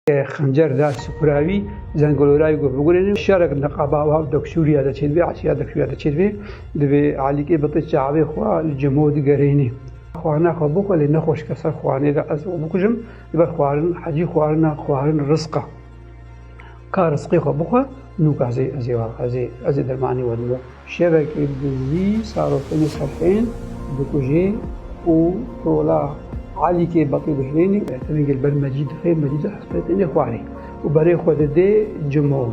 Xencer da Sipura wî, Zengulora wî got bigurînin. Şerek niqaba û hev dek Sûriya de çêdibê, Esîya dek Sûriya de çêdibê. Divê Elî Îbitî çavê xwe li Cimo digerînî. Xwarina xwe bixwe lê nexweş ke ser xwarinê de ez xwe bikujim. Li ber xwarin hecî xwarina xwarin rizq e. Ka rizqê xwe bixwe nûk ez ê ez ê ez ê ez ê dermanê we dimo. Şevekê bi zî sarofên safên dikuje û tola Elîkê Betî dihilêne û eterengê li ber Mecîd dixe, Mecîd jî hespê têne xwarê û berê xwe dide Cimo.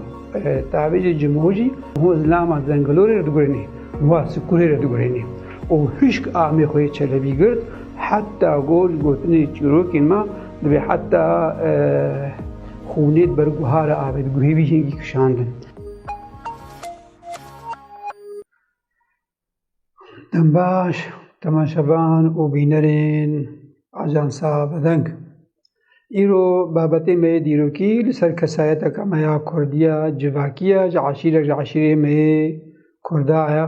Tavêjê Cimo jî ho zilama Zengilorê re digurêne, wiha Sikurê re digurêne û hişk amê xwe yê Çelebî girt heta ku ji gotinên çîrokên me dibê heta xûnê di ber guha re avê, di guhê wî hingî kişandin. Dem baş temaşevan û bînerên Ajansa Bedeng. Îro babetê me yê dîrokî li ser kesayeteke me ya Kurdî ya civakî ye ji eşîrek ji eşîrê me yê Kurda ye.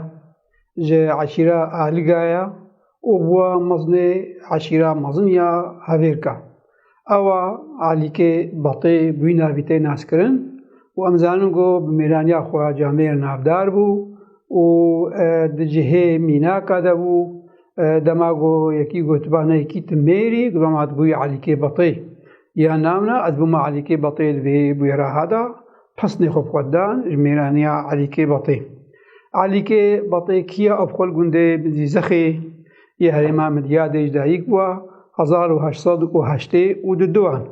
Ji eşîra Aliga ye. û bûya mezinê eşîra mezin ya Hevêrka. Ewa Alîkê Batê bûyîna vî tê naskirin û em zanin ku bi mêraniya xwe ya camê re navdar bû û di cihê mînaka de bû. Dema ku yekî gotiba ne yekî ti mêrî, ku doma hatibûyî Alîkê Batê. Ya navna ez bûma Elîkê Batê di vê bûyera ha de pesnê xwe bi xwe dan ji mêraniya Elîkê Batê. Elîkê Batê kî ye? Ev xwe li gundê Bizîzexê yê herêma Midyadê ji dayîk bûwa hezar û heşt sed û heştê û du duan.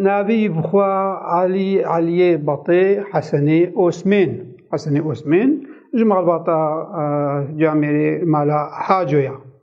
Navê wî bi xwe Elî Elîyê Batê Hesenê Osmên. Hesenê Osmên ji malbata camêrê mala Haco ye.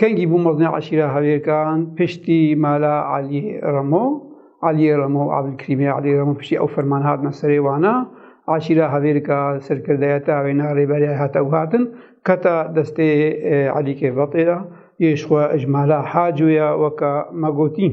Kengî bû mezne eşîra Hevêrkan piştî mala Elî Remo. Elî Remo û Evlkrîmê Elî Remo piştî ew ferman hatine serê wana. Eşîra Hevêrka serkirdeyeta wê na rêberiyayê hate guhardin. Keta destê Elî Kêrbatê de yê ji xwe ji mala Haco ya weka me gotîn.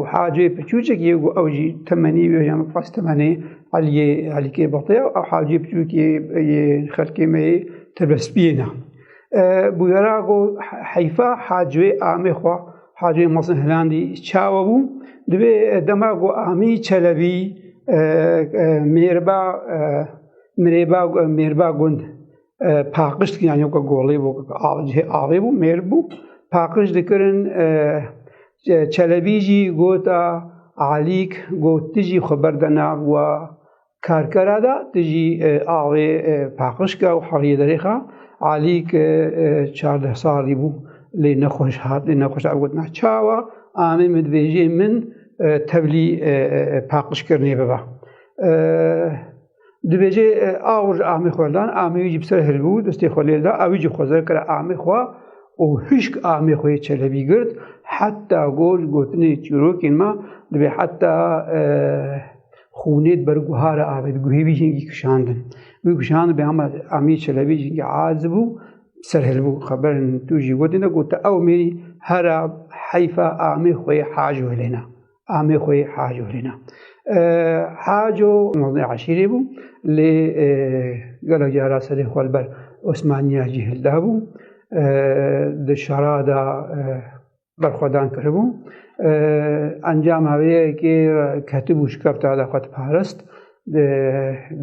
û hacê piçûçek yê û ew jî temenî wê yan xas temenê Eliyê Elîkê Batiya ew hacê piçûkê yê xelkê me yê tebespiyê ne. Bûyera go heyfa hacê amê xwe hacê Masin Hilandî çawe bû divê dema go amî çelebî mêrba mirêba mêrba gund paqij dikin yani weke golê bû cihê avê bû mêr bû paqij dikirin çelebî jî gota Alîk got tu jî xwe berde nav û karkera da tu jî avê paqij ke û heriyê derê xe Alîk çardeh salî bû lê nexweş hat lê nexweş ew gotina çawa amê min dibêjê min tevlî paqijkirinê bibe Dibêje awr ji amê xwe dan, amê wî jî bi ser hiribû, destê xwe lêda, ew jî xwezir kira amê xwe û hişk amê xwe yê çelebî girt, heta got ji gotinê çîrokên me dibê heta xûnê di ber guhara avê di guhê wî jîngî kişandin. Wî kişand bê hema amê çelebî jîngî azi bû, ser hilbû xeberin tu jî gotin de gote ew mêrî hera heyfa amê xwe yê hac welêna. amê xwe yê Haco hêna. Haco nozê eşîrê bû lê gelek cara serê xwe li ber Osmaniya jî hilda bû. Di şara da berxwedan kiribû. Encama vê yekê ketibû şikefta da xwe diparist. Di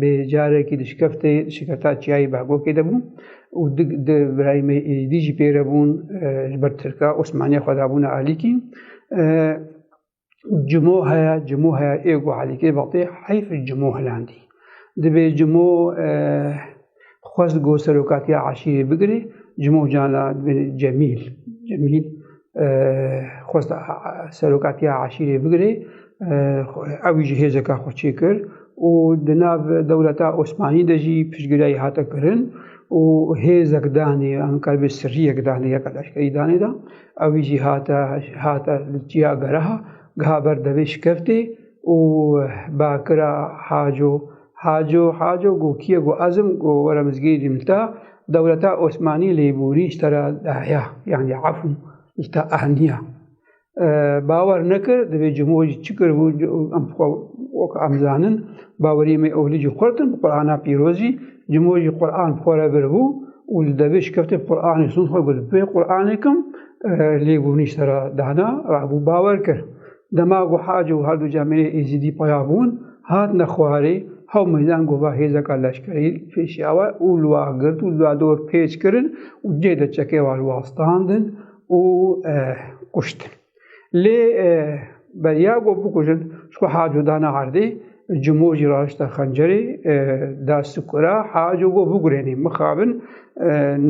bê carekî dişkeftê şiketa çiyayê Behgokê de bûm û di di birayê me Êzîdî jî pê re bûn ji ber Tirka Osmaniya xwe dabûne alîkî. Cimo heye, cimo heye ê got Alîkê vatê heyf cimo hilandî. Di bê cimo Xwest ku serokatiya eşîrê bigire Cimocana bin Cemîl Cemîl xwest serokatiya eşîrê bigire ew ji hêzeka xwe çêkir û di nav dewleta Osmanî de jî piştgiriyayî hate kirin û hêzek danê an qelbê sirriyek danê yeka leşkerî danê da ewî jî hate hate li çiya gereha geha ber devê şikeftê û bakira Haco, Haco, Haco go kî ye? Go ezim, go were mizgînê dî min ta dewleta Osmanî lêbûrî ji te re daya, yanî efû ji te ehniya. Bawer nekir, divê cimo jî çi kiribû em xwe wek em zanin, bawerî me ewlî jî xurt in bi Qur'ana pîroz jî, cimo jî Qur'an bi xwe re biribû û li devê şikefte bi Qur'anê stûn xwe got, bi vê Qur'anê kim lêbûrî ji te re dana, rabû bawer kir. Dema ku Hac û herdu cemêrê Êzîdî paya bûn, hatine xwarê, hew meydan gova hêzeka leşkerî kêşiya we û li wa girt û li dor pêç kirin û cih de çekê wa li wa standin û kuştin. Lê beriya ku bikujin ji ku Haco dana erdê, Cimo jî raşta xencerê da sikura Haco ku bigurênê mixabin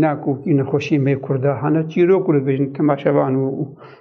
ne ku kî nexweşî mê kurda hene çîrok û dibêjin temaşevan û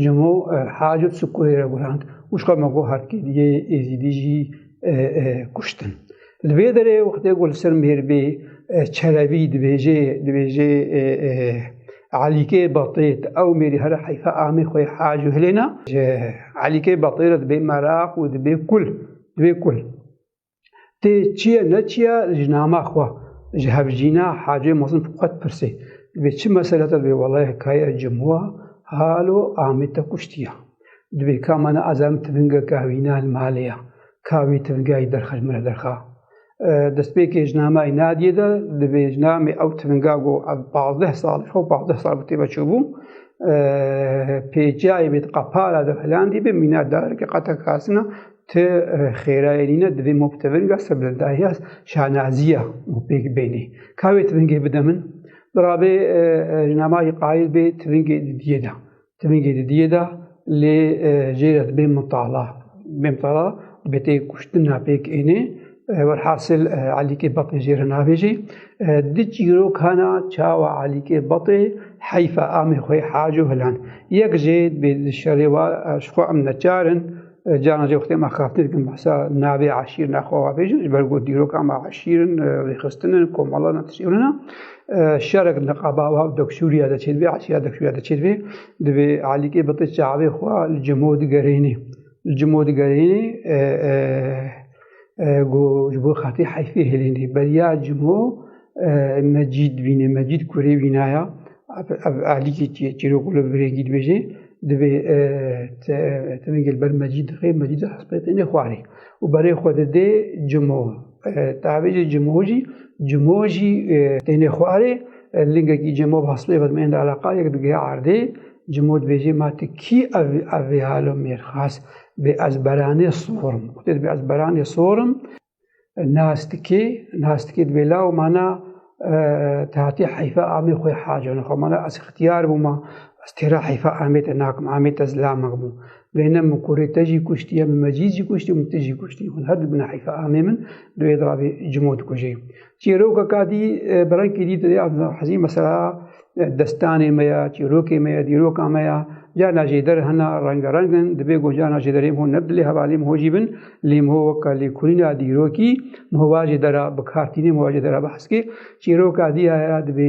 Cimo hacı Sukureyre gurand û şka me got herkêdiyê Êzîdî jî kuştin. Li vê derê wextê ku li ser mêrbê Çelebî dibêjê dibêjê Elîkê Batê ti ew mêrî here heyfa amê xwe hacı hilêna ji Elîkê Batê re dibê meraq û dibê kul dibê kul. Tê çiye ne çiye ji nama xwe ji hevjîna Hacê Mezin xwe dipirsê. Divê çi mesele te divê welaye kaya cimwa halo amê te kuştiya. Divê ka mena azem tivinge kavîna li malê ya. Ka wî tivingayî derxe ji min re derxa. Destpêkê ji namayî nadiyê de divê ji namê ew tivinga got ev pazdeh sal xwe pazdeh sal bi têve çûbû. Pêçiyayê bêt qepara de filandî bi mîna darekê qete kasina Ti xêrayê nîne divê ma bi tevinga serbilindaiya şanazîya ma pêk bênê. Ka wê tivingê bide min? Birabê nama jî qayil bê tivingê didiyê de. Tivingê didiyê de lê jê re dibê mitala. Dibê mitala dibê tê kuştina pêk ênê. Werhasil Elîkê Batê jê re navêjê. Di çîrokana çawa Elîkê Batê heyfa amê xwe hac û hilan. Yek jê dibê di şerê wa ji xwe em neçar in. Carna jî wextê me xaftin dikin behsa navê eşîr nexwewa bêjin ji ber ku dîroka me eşîr in, rêxistin in, komala ne tiştê hûn in e. Şerek niqaba wa dek Sûriya de çêdibê, eşîra dek Sûriya de çêdibê. Divê Elîkê bi ti çavê xwe li cimo digerênê. Li cimo digerênê ku ji bo xetê heyfê hêlênê. Beriya cimo Mecîd bîne, Mecîd kurê bînaya. Ev ahlîkê çi ye? Çîrok li birêkî dibêje divê tivingê li ber mecî dixê, mecî di hespêtêne xwarê û berê xwe didê cimo. Tavêjê cimo jî cimo jî têne xwarê lingekî cimo hespê ve dimên de eleqa yek digihe erdê cimo dibêje ma tu kî ev ev vê halo mêr xas bê ez beranê sorim. Xwedê dibê ez beranê sorim Nastikê, nastikê di bêla û mana te hatî heyfa amê xwe hacone xwe mana ez xitiyar bûma ez têra heyfa amê te nakim amê te zilamek bû bêne min kurê te jî kuştiye min mecîz jî kuştî min tu jî kuştî hûn her du bina heyfa amê min di wê dirabê cimo dikujê Çîrokeka dî bi rengkî dî tu dê hezî mesela destanê me ya, çîrokê me ya, dîroka me ya, carna jê der hena rengereng in, dibê ku carna jê derê ho ne bi dilê hevalî ho jî bin, lê ho weka lêkolîna dîrokî hova jê dera bikartînê hova jê dera behskê. Çîroka dî ya ya dibê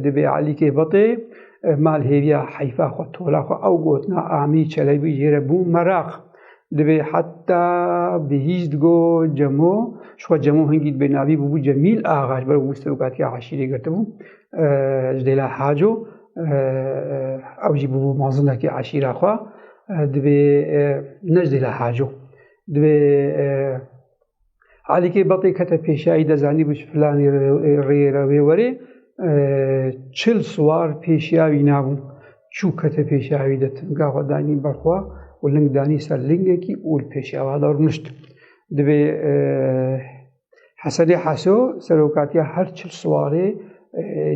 dibê Elîkê Betê mal hêviya heyfa xwe, tola xwe ew gotina amî çelebî jê re bû meraq. Divê heta bihîst go Cemo, şixwe Cemo hingî dibê navî bûbû Cemîl Axa ji ber wî serokatiya eşîrê girtibû ji dêla Haco. Ew jî bûbû mazindekî eşîra xwe. Divê ne ji dêla Haco. Divê Alîkê Bapê kete pêşayî de zanîbû ji filanî rêyê re wê werê çil siwar pêşiya wî nabû. Çû kete pêşayî de tinga xwe danî ber xwe û ling danî ser lingekî û li pêşiya wa de rûnişt. Divê Hesenê Heso serokatiya her çil siwarê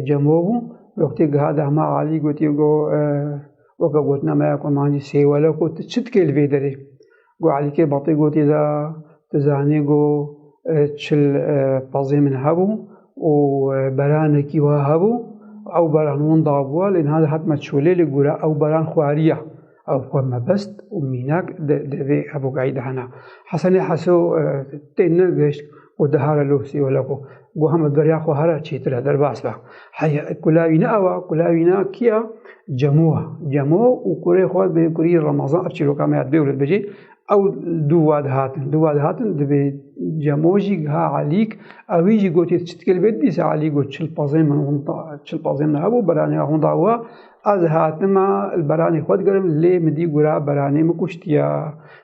cemo bû. Wextê giha de hema alî gotiye got weke gotnameya kurmancî sêwelek û tu çi dikê li vê derê? Got Elî Kêbatî gotî de tu zanî got çil pezê min hebû û beranekî wa hebû ew beran winda bûye lê niha dihat me çolê li gora ew beran xweriye. Ew xwe mebest û mînak di vê hevogayî de hene. Hesenê Heso tê negihişt û dihare lûsî wele ku goha me beriya xwe here çîtir e derbas be. Heya kulawî ne ewa kulawî ne kiya cemo cemo û kurê xwe bê kurî Ramazan ev çîroka me ya dibê wlet bicî ew dû wa dihatin dû wa dihatin dibê cemo jî giha Elîk ewî jî gotî çi dikê li bê dîsa Elî got çil pazên min hûn çil pazên min hebû beranê hûn da wa ez hatima li beranê xwe digerim lê min dî gura beranê min kuştiya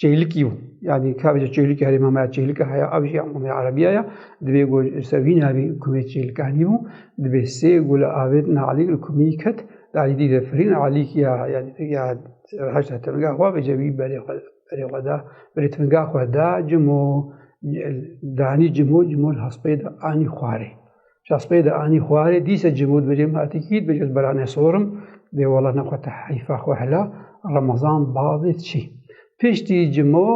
Çêlikî yo. Yanî kevce çêlikî herê me me çêlika heye ev jî em me erebiya ye. Divê ku ji ser vî navê kumê çêlika nîbû. Divê sê ku li avêt na Elî li kumî ket. Di Elî dî de firîn Elî ya yanî ya heşta tirnga xwe vêje wî berê xwe berê xwe da. Berê tirnga xwe da cimo danî cimo cimo li hespê de anî xwarê. Çaspey de anî xwarê dîse cimûd bicim hatî kît bicim berane sorim bê wala nexwe te heyfa xwe hela Ramazan bavê çî. Piştî cimo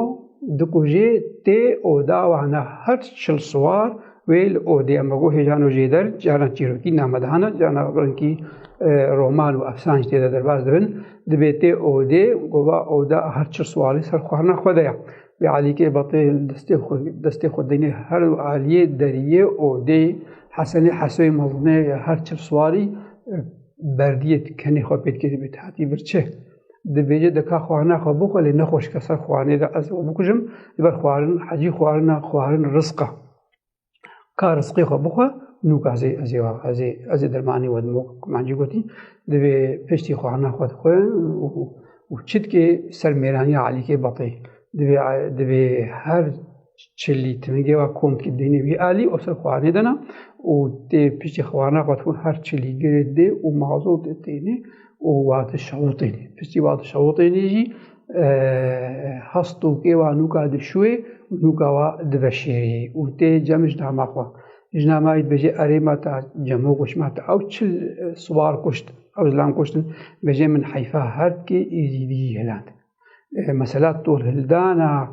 dikujê tê oda wana her çil siwar wê li odê em go hêjano jêder caran çîrokî namedana cana rinkî e, roman û efsan jî têde derbas dibin dibê tê odê gova oda her çil siwarî ser xwarina xwe de ya. Bi Alîkê Batê destê xwe destê xwe dengê her du aliyê deriyê û dê Hesenê Hesoyê mezine ya her çil swarî berdiyê kenê xwe pêt kêdibê tehtî vir çi. Dibêje dika xwarina xwe bixwe lê nexweşike ser xwarinê de ez xwe bikujim, li ber xwarin hecî xwarina xwarin rizq e. ka rizqê xwe bixwe nûk ezê ezê ezê ezê dermanê we dimok mancî gotî divê piştî xwana xwe dixwe û çitkê ser mêraniya alîkê betê divê divê her çilî timigê wa komkî dînê wî alî û ser xwanê dena û tê piştî xwana xwe dixwe her çilî girê dê û mazotê tênê û wate şewitênî. Piştî wate şewitênî jî hest û kê wa nûka dişûyê û nûka wa diveşêrî û tê cem ji dama xwe. Ji dama wî dibêje erê me ta cemo goş me ta ew çil siwar kuşt ew zilam kuştin bêje min heyfa her kê êzîdiyî hilend. Mesela tolhildana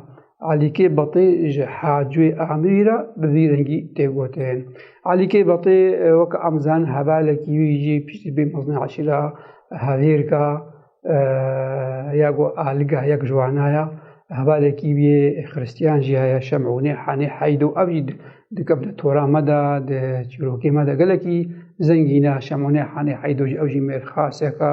Elîkê Betê ji Hacûyê Amirî re bi vî rengî tê gotin. Elîkê Betê weke em zanin hevalekî wî jî piştî bê mezin eşîra hevêrka ya ku aliga yek ji wana ya. Hevalekî wî yê xiristiyan jî heye Şemûnê Henê Heydo ev jî dikevne tora me de di çîrokê me de gelekî zengîn e. Şemûnê Henê Heydo jî ew jî mêrxaseka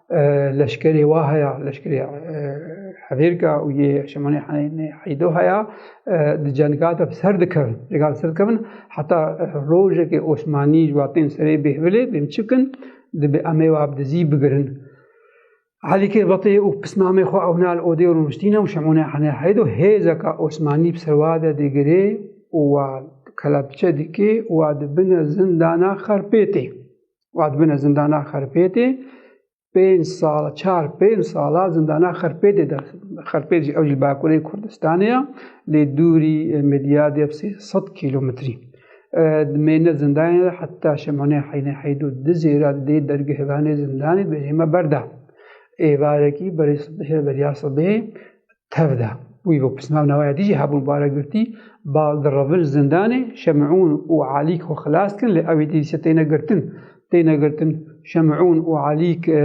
leşkerê wa haya leşkerê hevêrka û yê Şemanê Heydo haya di cenga de bi ser dikevin cenga bi ser dikevin heta rojekê Osmanî ji watên serê bêhvilê bêm çi bikin dibe em ê wab di zî bigirin Elî kê betê û pisnamê xwe ewna li odê rûniştîne û Şemanê Henê Heydo hêzeka Osmanî bi ser wa de digirê û wa kelepçe dikê û wa dibine zindana xerpêtê û dibine zindana xerpêtê pênc sal çar pênc sala zindana xerpêtê de xerpêt jî ew jî bakurê Kurdistanê ya lê dûrî medya dê sê sed kîlometrî dimêne zindanê de heta şemonê heynê heydû di zêra dê dergehvanê zindanê dibêjê me berda êvarekî berê berya sibê tev de. Wî bo pismav newaya dijî hebûn bare girtî, bal direvin zindanê Şemûn û Alîk xwe xilas kin lê ewî dîse têne girtin. Têne girtin Şemûn û Alîk e,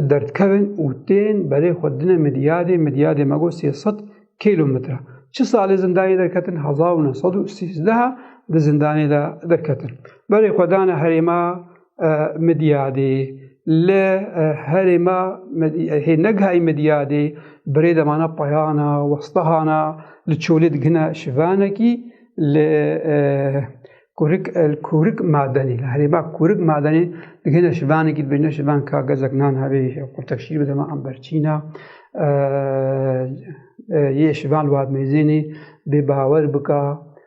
derdkevin û tên berê xwe dine Midyadê, Midyadê me got sê sed kîlometre. Çi salê zindanê derketin hezar û neh sed û sîzdeh di zindanê de derketin. Berê xwe dane herêma Midyadê, li herê me hê negihayî Midyadê birê demana payana westahana li çolê digihne şivanekî li Kurik el Kurik madenê li herê me Kurik madenê digihne şivanekî dibêjne şivan ka gezek nan hebê qurtek şîr bide me an berçîna yê şivan li Wadmeyzênê bê bawer bika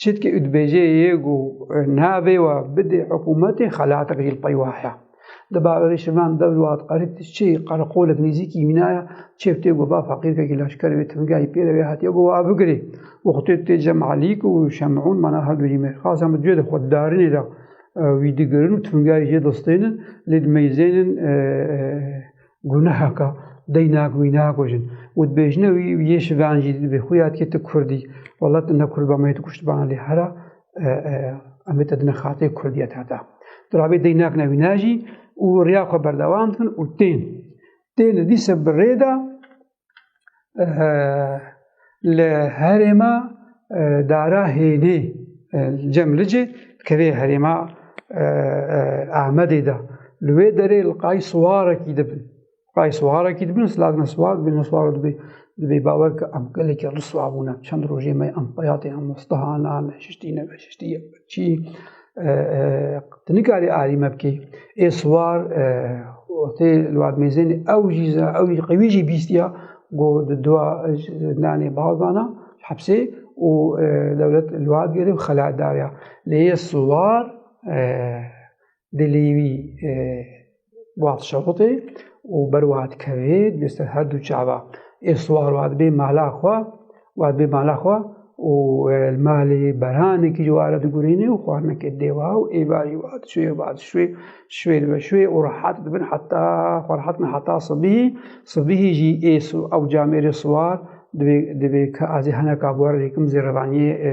Çitkî û dibêje yê ku navê we bidê hikûmetê xelatek jî li pey we heye. Di bawerê şivan dew wat qerit çi qereqolek nêzîkî mîna ye, çêv tê ku va feqîrkekî leşkerê wê timgehî pê re wê hatiye ku wa bigirê. Wextê tê Cem Elîk û Şemûn mana her du jî mêrxasan bi cihê di xweddarinê de wî digirin û timgehî jê distênin lê di meyzênin Gunehaka deyna ku wî nakujin û dibêjine wî yê şivan jî dibê xwe yad ke tu Kurdî wela tu ne Kurd ba me yê tu kuştibana lê hera em ê te dine xatirê Kurdîya te heta. Tu rabê deyna kine wîna jî û riya xwe berdewam dikin û tên. Tên li dîse bi rê de li herê me dara hênê cem licê dikevê herêma Amedê de li wê derê li qayî siwarekî dibin. Qayî siwarekî dibin siladin siwar dibin ne siwar dibê dibê bawer ke em gelekî riswa bûne. Çend rojê me em xeyatê em mostehanan, şiştî ne şiştî çî Tu nikarî alî me bikî. Ê siwar tê li wan mêzên ew jî ew jî qewî jî bîstiya ku di dua nanê bal dana hepsê û dewlet li wan girê û xelat daye. Lê yê siwar dilî wî Wextê şewitê û ber wiha dikevê dibê ser her du çava. Ê siwar wiha dibê mala xwe wiha dibê mala xwe û e, li malê beranekî ji ware digurînê û xwarinekê didê wiha û ê barî wiha dişwê ê wiha dişwê şwê dibe şwê û rehat dibin heta xwe rehat bin heta sibîhî sibîhî jî ê ew camêrê siwar dibê dibê ka azê heneka bor rêkim zêrevaniyê e,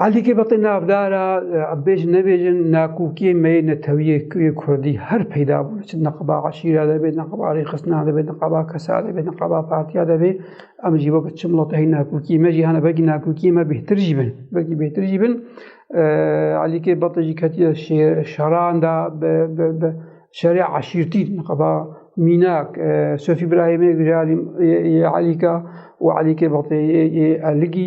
Heldîkê betê navdara bêj nebêjin nakûkiyê meyê netewiyê kuyê Kurdî her peyda bûne çi neqaba eşîra de bê neqaba rêxistina de bê neqaba kesa de bê neqaba partiya de bê em jî wek çi milata hê nakûkiyê me jî hene belkî nakûkiyê me bêhtir jî bin belkî bêhtir jî bin Elîkê betê jî ketiye şeran da şerê eşîrtî neqaba mînak Sofî Birahîmê Elîka û Elîkê betê Elîgî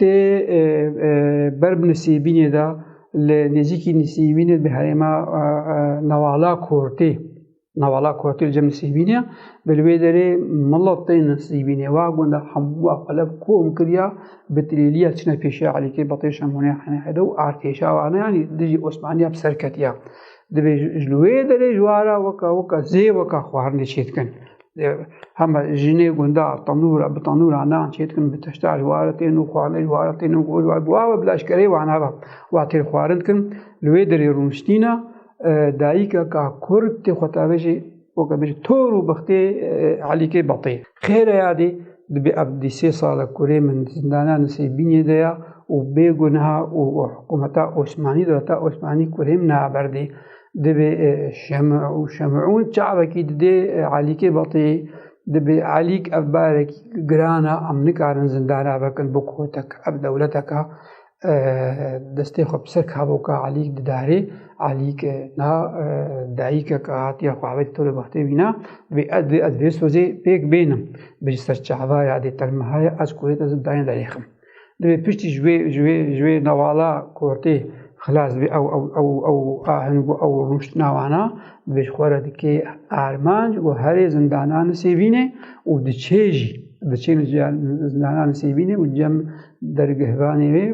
Di ber bi Nisêbînê de li nêzîkî Nisêbînê di herêma Navala Kortê Navala Kortê li cem Nisêbînê bi li wê derê mila tên Nisêbînê wa gunda hemûa xwe lev kom kiriya bi tilêliya çine pêşiya Elîkê Batê Şemonê Henehede û artêşa wana yanî dijî Osmaniya bi ser ketiya. Divê ji li wê derê ji wara weka weka zê weka xwarinê çêdikin. hema jinê gundar tanûra bi tanûra nan çê dikin bi tişta ji ware tên û xwarinê ji ware tên û gol ware bi wawe bila eşkereyê wan heva wa têr xwarin dikin li wê derê rûniştîna dayîkeka kurd tê xwe tavê jî weke bijî tor û bixtê elîkê betê xêre ya dî dibê ev dî sê sala kurê min zindana nisê bînê de ya û bêguneha û hikûmeta Osmanî dewleta Osmanî kurê min naberdê Divê şemûn çavekî didê Elîkê betê. Divê Elîk ev barekî giran e em nikarin zindana vekin bo kotek ev dewleteka destê xwe bi ser kavoka Elîk didarê. Elîk na dayîkeka hatiya xwe ev tolê bextê wîna divê ez divê ez vê sozê pêk bênim. Bi ser çavaya dê telmihaya ez kurê te zindanê derêxim. Divê piştî ji wê ji wê ji wê nevala kortê xilas bê ew ew ew ew ahing û ew rûşt nawana divê ji xwe re dikê armanc û herê zindanan sêvînê û diçê jî diçê zindanan sêvînê û cem dergehvanê wê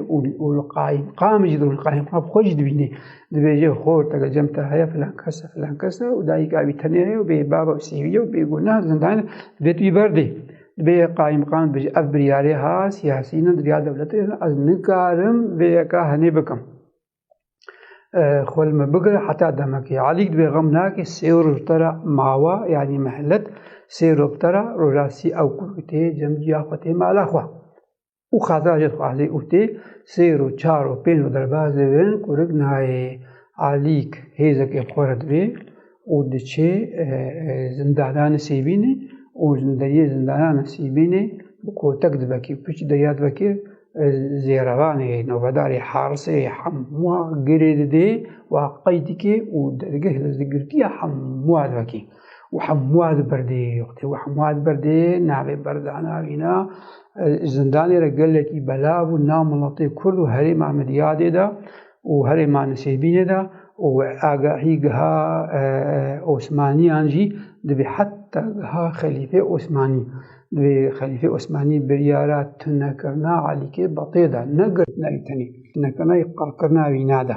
û li qayîmqam jî li qayîmqam xwe jî dibînê dibêje xor tege cem te heye filan kes e filan kes e û dayîka wî tenê heye û bê bava û sêvî ye û bêgunah zindan divê tu yî berdê Divê yek qaîmqam bijî ev biryarê ha siyasî ne divya dewletê ne ez nikarim vê yeka henê bikim. Xol me bigir heta demekê. Alîk divê xem nake sê roj tera mawa yanî mehelet sê rok tera roja sî ew kurkitê cem ciya xwe tê mala xwe. û xaza jê dixwe Elî û tê sêr û çar û pênc û derbas dibin kurik nayê Elîk hêzekê xwe re dibê û diçê zindananê Sêbînê û li deriyê zindanana Sêbînê bi kotek divekê û piştî deriya divekê zêrevanê novedarê Harisê hemûa girê didê wa qey dikê û dergeh li girtiya hemûa divekê. û hemûa di berdê yoxtê û hemûa di berdê navê berdana wîna zindanê re gelekî belav û nav miletê Kurd û herêma min diyadê de û herêma Nisêbînê de û agahî giha Osmaniyan jî dibê heta giha Xelîfê Osmanî dibê Xelîfê Osmanî biryara tunekirina Elîkê Betê de ne girtina wî tenê tunekirina qirkirina wîna de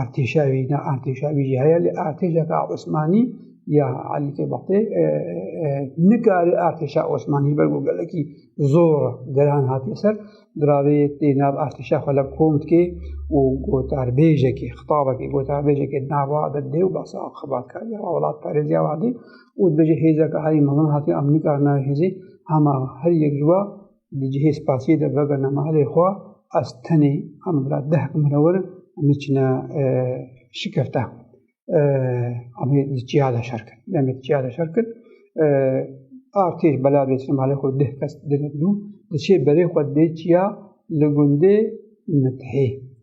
artêşa wî ne artêşa wî jî heye lê artêşeka Osmanî ya Elî Kêbatê nikare artêşa Osmanî ber ku gelekî zor geran hatiye ser giravê tê nav artêşa xwe lev kom dike û gotarbêjekê xitabekê gotarbêjekê nava de dê û basa xibatkariya welatparêziya vadê û dibêje hêzeke herî mezin hatiye em nikarin navê hêzê hema her yek ji we Di cihê spasiyê de vega nemahalê xwe ez tenê em bila deh minewir em çine şikefte. Em di çiya de şer kir. Em di çiya de şer kir. Artêş bela bê nemahalê xwe deh kes dine dû. Di çê berê xwe dê çiya li gundê mitihê.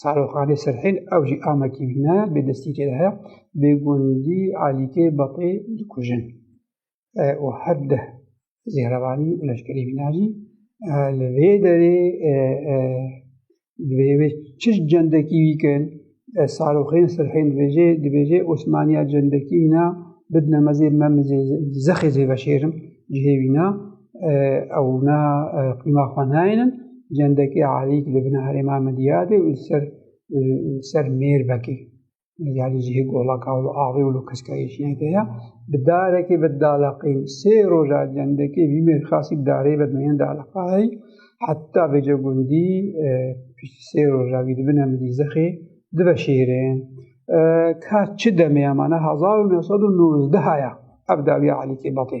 Saroxanê Sirhîl ew jî amekî bîne bê destîkê de heye bê gundî Alîkê Batê dikujin û her deh zêhrevanî û leşkerî bîna jî li vê derê divê wê çi cendekî wî kirin Saroxên Sirhîl dibêje dibêje Osmaniya cendekî wîna bidine mezê me zexê zê veşêrim cihê wîna Ew na qîma xwe nayênin. Cendekê Alî ki li bin herêma min diyade û ser ser mêr vekê. Yani cihê golaka û avê û kiskayê jiyê de ya. Bi darekê bi dalaqîn sê roja cendekê vî mêr xasî bi darê bi meyên dalaqayî heta vêce gundî piştî sê roja vî dibine min dî zexê dibe şêrên. Ka çi demê ya mana hezar û new sed û nûzdeh ya ev dawiya Alîkê Batê.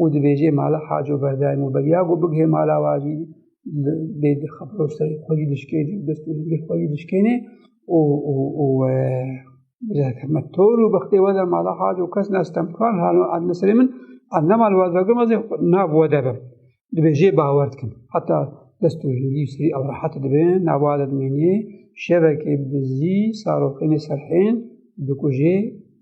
û dibêjê mala Haco Berdaym û beriya ku bigihê mala wa jî bê xebro serê xwe jî dişkênê û dest û lingê xwe jî dişkênê û û û me tor û bextê we de mala Haco kes ne stemkan hano adne serê min a ne mal waz vegrim ez ê nav we de bim dibêjê bawer dikim heta dest û lingî û serî ew rehet dibin nav we de dimênî şevekê bizî saroxênê serhên dikujê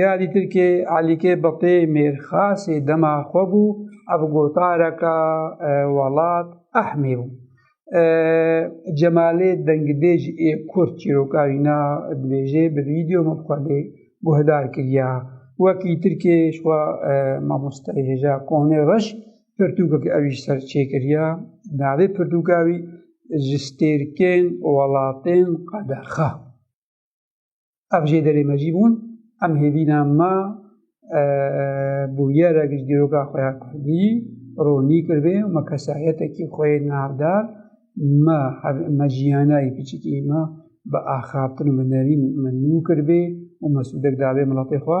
Ya dî Tirkê Elîkê Biqî mêrxasê dema xwe bû ev gotareka welat ehmê bû. Cemalê dengibêj ê Kurd çîroka wî na dibêjê bi vîdeo me bi xwedê guhdar kiriya. Wekî Tirkê şwa mamostayê hêja Konê Reş pirtûkek ewî ser çêkiriya. Navê pirtûka wî ji stêrkên welatên qedexe. Ev jê derê me jî bûn, em hêvîna me bûyerek ji dîroka xwe ya Kurdî ronî kiribê û me kesayetekî xwe yê navdar me me jiyanayê piçikî me bi axaftin û bi nerîn me nû kiribê û me sûdek dabê miletê xwe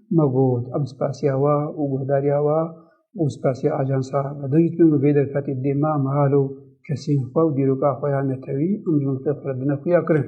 Me got em spasiya we û guhdariya we û spasiya ajansa Medûyî dikin ku vê derfetê dê me mehal û kesên xwe û dîroka xwe ya netewî û mijûlxê xwe dine xuya kirin.